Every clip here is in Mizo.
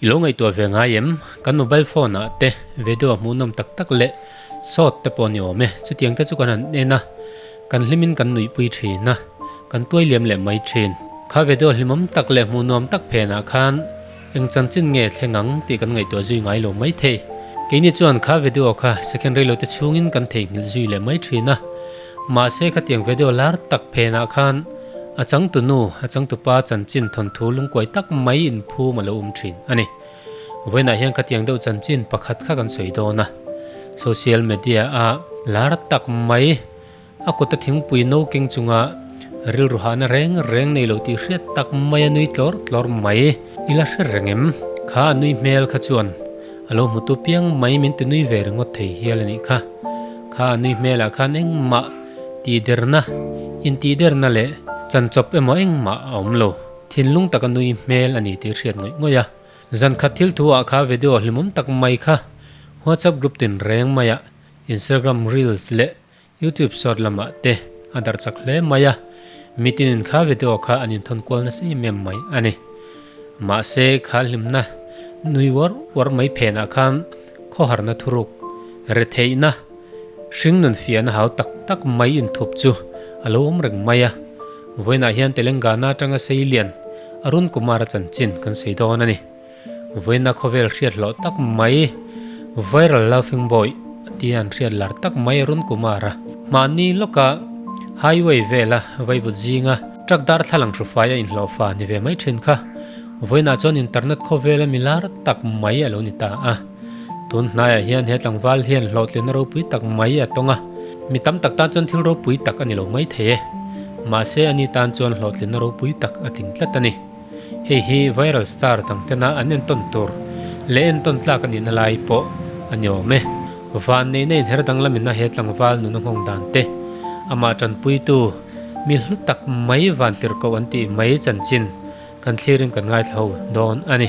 I lo ngaihtuah ve ngai em? Kan mobile phone ah te video a hmuhnawm tak tak leh sawt te pawh ni awm e, chutiang te chu kan han en a, kan hlim in kan nuihpui thin a, kan tuai liam leh mai thin. Kha video hlimawm tak leh hmuhnuam tak phen ah khan, Eng chanchin nge thleng ang tih kan ngaihtuah zui ngai lo mai thei. Keini chuan kha video kha secondary lote chhungin kan theihnghilh zui leh mai thin a. Mahse khatiang video lar tak phenah khan a changtu nu, a changtu pa chanchin thawnthu lungkuai tak mai inphum a lo awm thin a ni. Vawiinah hian khatiang deuh chanchin pakhat kha kan sawi dawn a. Social media-ah lar tak mai. A kawta thingpui no keng chunga rilru hahna reng reng nei lo tih hriat tak mai a nui tlawr tlawr mai. I la hre reng em? Kha a nui hmel kha chuan a lo hmu tu piang mai min ti nui ve ringawt thei hial a nih kha. Kha a nui hmelah khan engmah tih derna, intih derna leh chanchawp emaw engmah a awm lo. Thinlung taka nui hmel a ni tih hriat ngawih ngawih a. Zan khat thil thu ah kha video hlimawm tak mai kha WhatsApp group tin reng maiah Instagram reels leh Youtube short lamah te a darh chak hle mai a, mitin in kha video kha an inthawn kual nasa em em mai a ni. Mahse khal hlimna nui uar uar mai phenah khan khawharna thuruk, retheihna, hring nun fiahna hau tak tak mai inthup chu a lo awm reng mai a. Vawiinah hian Telengana atanga Seilian Arun Kumar-a chanchin kan sawi dawn a ni. Vawiina khawvel hriat hlawh tak mai, Viral Laughing Boy tia an hriat lar tak mai a run kumar a. Mahni lawka Highway vela vaivut zinga truck darthlalang hrufai a inhlawh fa ni ve mai thin kha Vawiina chuan internet khawvela mi lar tak mai a lo ni ta a. Tun hnaiah hian he tlangval hian hlawhtlinna ropui tak mai a tawng a, mi tam tak tan chuan thil ropui tak a ni lo mai thei e. Mahse ani tan chuan hlawhtlinna ropui tak a tling tlat a ni. Hei hi viral star dang tena an entawn tur leh entawn tlak anih na lai pawh a ni awm e. Vanneihna inher danglam ina he tlangval nuna nghawng dan te, amah tanpuitu mi hlu tak mai van tir koh an tih mai chanchin kan thlir in kan ngaithla dawn a ni.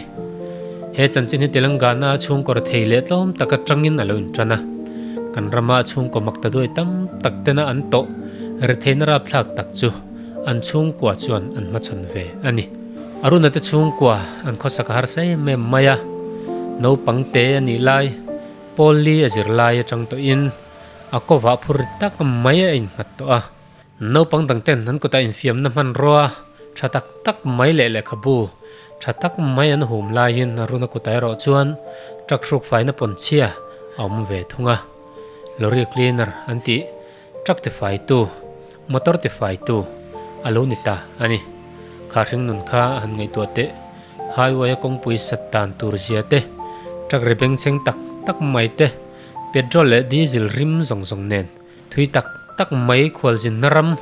He chanchin hi Telangana a chhungkawr thei leh tlawm tak atang in a lo in tan a. Kan rama a chhungkaw maktaduai tam tak tena an tawh ri theihna rapthlak tak chu. an chhungkua chuan an hmachhan ve a ni. Aruna te chhungkua an khawsak a harsa em em mai a, naupang te a nih lai Polly a zir lai atang tawhin a kawva phur ri tak mai a innghat tawh a. Naupang dang ten an kutah infiamna hmanrua tha tak tak mai leh lehkhabu tha tak mai an hum laiin Aruna kutah erawh chuan truck hrukfaina pawn chhia a awm ve thung a, lorry cleaner an tih. Truck te faitu, motor te faitu a lo ni ta a ni. Khar hring nun kha a han ngaihtuah teh, highway a kawngpui sat dan tur zia te, truck ri bengchheng tak tak mai te, petrol leh diesel rim zawng zawng nen thui tak tak mai khualzin hnaram,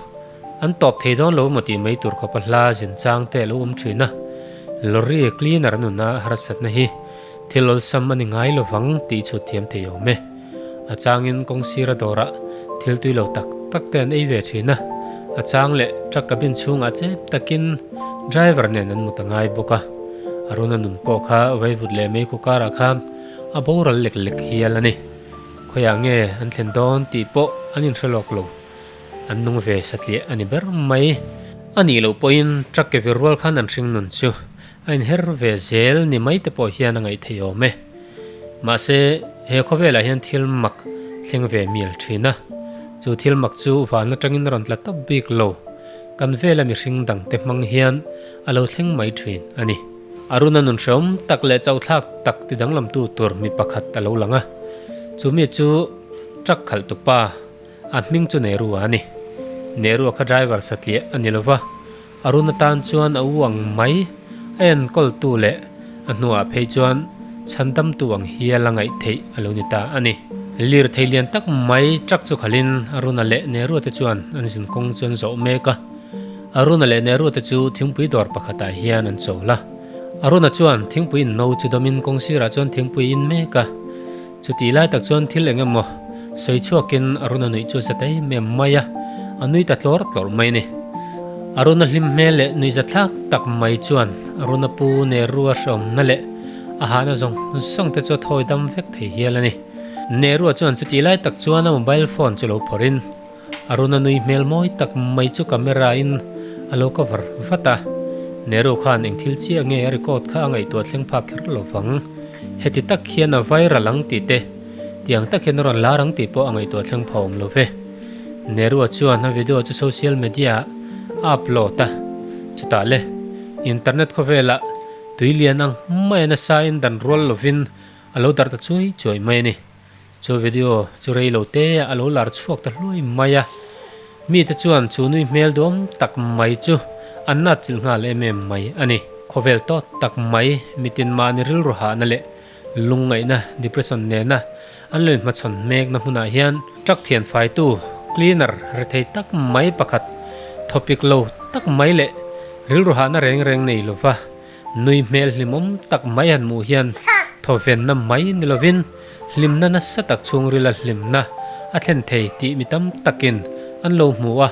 An tawp thei dawn lo emaw tih mai tur khawpa hla zin chang te alo awm thin a, lorry cleaner an una harsatna hi thil awlsam a ni ngai lovang tih chhut thiam thei awm e. A changin kawng sira dawrah thil tui lo tak tak te an ei ve thin a, a chang leh truck cabin chhungah chep takin driver nen an mut a ngai bawk a. Aruna nun pawh kha vaivut leh mei kawkarah kha a boral lek lek hial a ni. Khawiah nge an thlen dawn tih pawh an inhrelawk lo. An nung ve satliah a ni ber mai. A nih loh pawhin truck ke vir rual khan an hring nun chu a inher ve zel ni mai te pawh hian a ngaih thei awm e. Mahse, he khawvelah hian thil mak thleng ve mial thin a. Chu thil mak chu van atangin a rawn tla tawp bik lo. Kan vela mihring dangte hmang hian a lo thleng mai thin a ni. Aruna nun hrehawm tak leh chauhthlak tak ti danglamtu tur mi pakhat a lo lang a. Chumi chu truck khalh tupa. A hming chu Nehru a ni. Nehru a kha driver satliah a ni lo va, Arun atan chuan a u ang mai. A enkawltu leh a hnuah phei chuan chhandamtu ang hial la ngaih theih a lo ni ta a ni. Lirthei lian tak mai truck chu khalhin Aruna leh Nehru te chuan an zin kawng chu an zawh mek a. Aruna leh Nehru te chu thingpui dawr pakhatah hian an chawl a. Aruna chuan thingpui inno chu dawmin kawng sirah chuan thingpui a in mek a. Chutih lai tak chuan thil eng emaw sawi chhuakin Aruna nuih chu a satei em em mai a, a nui ta tlawr tlawr mai ni. Aruna hlim hmel leh nui za thlak tak mai chuan Aruna pu Nerua hreawmna leh a hahna zawng zawng te chu a thawi dam vek thei hial a ni. Nerua chuan chutih lai tak chuan a mobile phone chu lo phawrhin, Aruna nui hmel mawi tak mai chu camera in a lo cover vat a, Nehru khan eng thil chiah nge a record kha a ngaihtuah thleng phak kher lo vang. Heti tak hian a viral ang tih te, tiang tak hian a rawn lar ang tih pawh a ngaihtuah thleng pha awm lo ve. Nehru-a chuan a video chu social media-ah a upload a, chutah le internet khawvelah tui lian ang maiin a sa in dan rual lovin a lo darh ta chuai chuai mai a ni. Chu video chu rei lo te a lo lar chhuak ta hluai mai a, mi te chuan chu nui hmel duam tak mai chu an natchilh nghal em em mai a ni. Khawvel tawt tak mai, mitin mahni rilru hahna leh lungngaihna, depression, nena an lo inhmachhawn hmekna hmunah hian truck thian faitu cleaner rethei tak mai pakhat thawpik lo tak mai leh rilru hahna reng reng nei lova, Nui hmel hlimawm tak mai an muh hian thawvenna mai ni lovin hlimna nasa tak chhungrila hlimna a thlen thei tih mi tam takin an lo hmu a.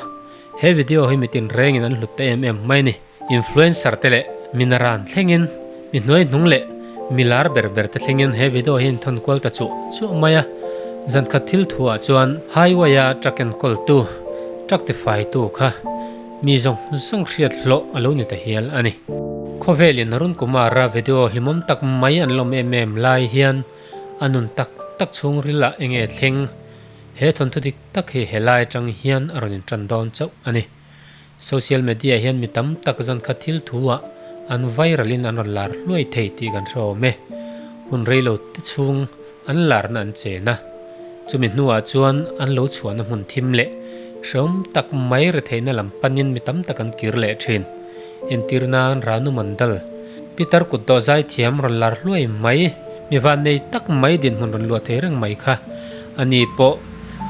He video hi mitin rengin an hlut ta em em mai ni. Influencer te leh mina ran thlengin, mi hnuai hnung leh mi lar ber ber te thlengin he video hi inthawn kual ta chuah chuah mai a. Zankhat thil thuah chuan highway-a truck enkawl tu, truck tifai tu kha, Mi zawng zawng hriat hlawh a lo ni ta hial a ni. Khawvel in Arunkumara video hlimawm tak mai an lawm em em lai hian a nun tak tak chhungril ah enge thleng he thawnthu dik tak hi he lai atang hian a rawn in tan dawn chauh a ni. Social media hian mi tam tak zan kha thil thu ah an viral in an rawn lar hluai thei tih kan hre awm e. Hun rei lo te chhung An larna an chen a, chumi hnuah chuan an lo chhuahna hmun thim leh hreawm tak mai retheihna lam panin mi tam tak an kir leh thin. Entir nan Ranu Mandal, Pitar kut dawhzai thiam rawn lar hluai mai, mi va nei tak mai dinhmun rawn luah thei reng mai kha a ni pawh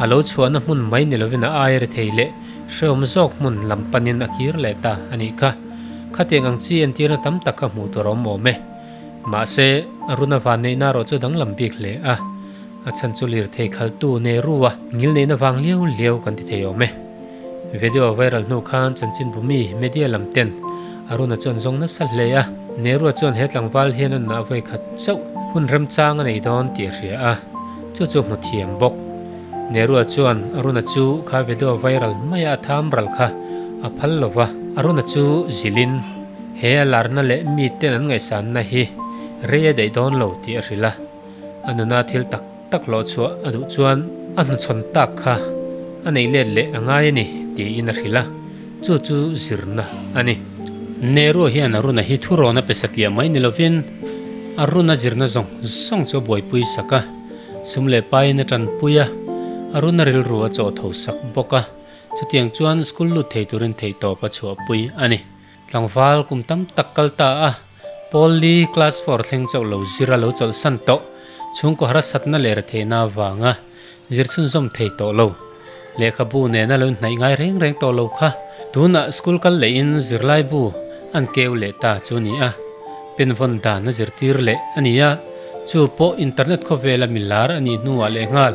a lo chhuahna hmun mai ni lovin a ai rethei leh hreawm zawk hmun lam panin a kir leh ta a nih kha. Khatiang ang chi entirna tam tak kha hmuh tur a awm awm e. Mahse, a runa van neihna erawh chu a danglam bik hle a, a chhan chu lirthei khaltu Nehru a ngil neihna vang hliau hliau kan ti thei awm e. Video a viral hnu khan chanchinbu mi, media, lam ten a runa chu an zawng nasa hle a, Nehru-a chuan he tlangval hian a nunah a vawi khat chauh, hun remchang a nei dawn tih a hria a, chu chu hmu thiam bawk. Nehru-a chuan a runa chu kha video a viral hmai a, a tham ral kha a phal lo va, a runa chu zilhin. He a larna leh miten an ngaihsanna hi rei a daih dawn lo tih a hrilh a, a nuna thil tak tak hlawhchhuah a duh chuan a hnuchhawn tak kha a neih let leh a ngai a ni tiin a hrilh a, chu chu zirna a ni. Nehru hian a runa hi thu rawn a pe satliah mai ni lovin, a runa zirna zawng zawng chu a buaipui sak a, sum leh paiin a tanpui a, a runa rilru a chawh tho sak bawk a, chutiang chuan school lut thei turin theihtawp a chhuahpui a ni. Tlangval kum tam tak kal ta a, Pauli class four thleng chauh lo zir a lo chawlh san tawh, chhungkaw harasatna leh retheihna avanga zir chhunzawm thei tawh lo, lehkhabu nen a lo hnaih ngai reng reng tawh lo kha. Tunah school kal lehin zirlaibu an keu leh ta chu a ni a, penvawn dan a zirtir leh a ni a, chu pawh internet khawvela milar a nih hnuah lehnghal,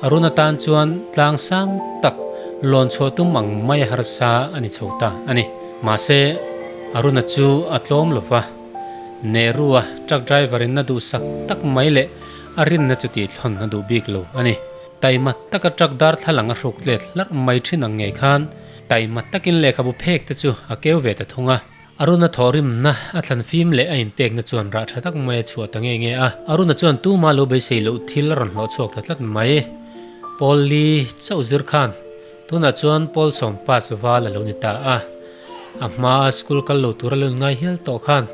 Arun atan chuan tlang sang tak lawn chhuah tum ang mai a harsa a ni chho ta a ni. Mahse, Aruna chu a tlawm lo va, Nehru-a truck driver-in a duhsak tak mai leh a rinna chu tihthlawn a duh bik lo a ni. Taima taka truck darthlalang a hruk tlet hlarh mai ṭhin ang ngei khan taima takin lehkhabu phekte chu a keu ve ta thung a. Aruna thawhrimna a thlan fim leh a inpekna chuan rah tha tak mai a chhuah ta nge nge a. Aruna chuan tuma lo beisei loh thil a rawn hlawh chhuak ta tlat mai. Pawl li chauh zir khan tunah chuan Pawl sawm pass val a lo ni ta a. A hmaa school kal lo tur a lo inngai hial tawh khan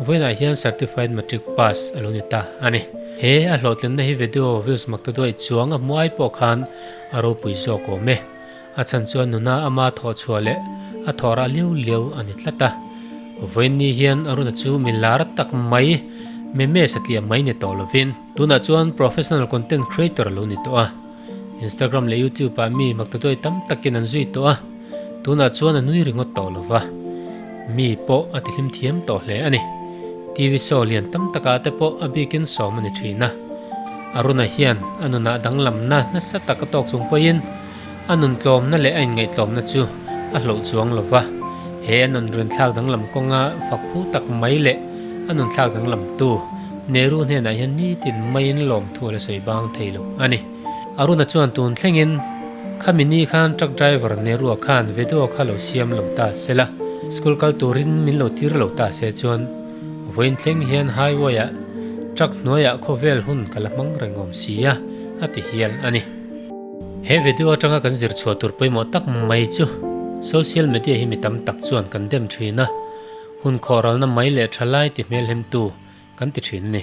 vawiinah hian certified matric pass a lo ni ta a ni. He a hlawhtlenna hi video views mak ta duai chuang a hmu ai pawh khan a ropui zawk awm e. A chhan chuan nuna ama thawh chhuah leh a thawh rah lio lio a ni tlat a. Vawiinni hian a runa chu mi lar tak mai, memes a tih a mai ni tawh lovin, tunah chuan professional content creator a lo ni tawh a. Instagram leh YouTube ah mi maktudawi tam takin an zui tawh a, tunah chuan a nui ringawt tawh lo va. Mi pawh a tihlim thiam tawh hle a ni. TV show lian tam takah te pawh a bikin sawm a ni thin a. A runa hian a nuna danglamna nasa tak a tawk chung pawiin, A nun tlawmna leh a inngaihtlawmna chu a hloh chuang lo va, he a nun rinthlak danglam kawnga fakphu tak mai leh a nunthlak danglamtu Nehru hnenah hian nitin maiin lawmthu a la sawi bang thei lo a ni. Aruna chuan tun thlengin, Khamini khan truck driver Nehru-a khan veduaw kha lo siam lo ta se la, school kal turin min lo tir lo ta se chuan vawiin thleng hian highway-a truck hnuaiah khawvel hun ka la hmang reng awm si a, a ti hial a ni. He video atanga kan zir chhuah tur pawimawh tak mai chu Social Media hi mi tam tak chuan kan dem thin a, hun khawhralna mai leh tha lai ti hmelhlemtu kan ti thin ni.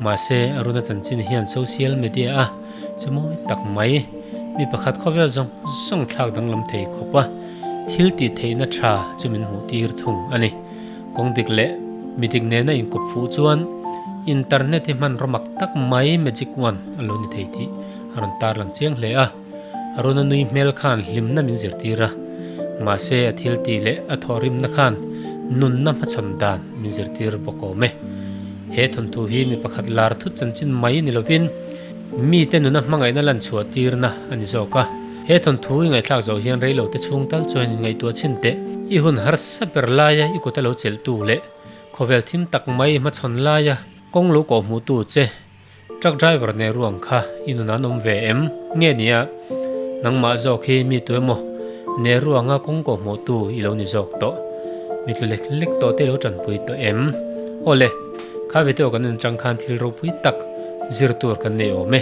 Mahse, Arunachan chin hian Social Media a chemawi tak mai, mi pakhat khawvel zawng zawng thlak danglam thei khawp a thil tih theihna tha chu min hmuh tir thung a ni. Kawng dik leh mi dik nena inkup fuh chuan Internet hi hmanraw mak tak mai, magic wand, a lo ni thei tih a rawn tarlang chiang hle a, Aruna nui hmel khan hlimna min zirtir a, mahse a thiltih leh a thawhrimna khan nunna hmachhawn dan min zirtir bawk awm e. He thawnthu hi mi pakhat lar thut chanchin mai ni lovin mite nuna hmangaihna lan chhuah tirna a ni zawk a. He thawnthu i ngaihthlak zo hian reilote chhung tal chuanin ngaihtuah chhin teh, i hun harsa ber laia i kuta lo chelhtu leh khawvel thim tak mai hmachhawn laia kawng lo kawhhmuhtu che, Truck driver nen ruang kha i nun an awm ve em? Nge nia? Nangmah zawk hi mi tu emaw? Nen ruanga kawngkaw hmuhtu i lo ni zawk tawh? Mi tlu lek lek tawh te i lo tanpui tawh em? Aw le, kha Vitew kan en chang khan thil ropui tak zir tur kan nei awm e.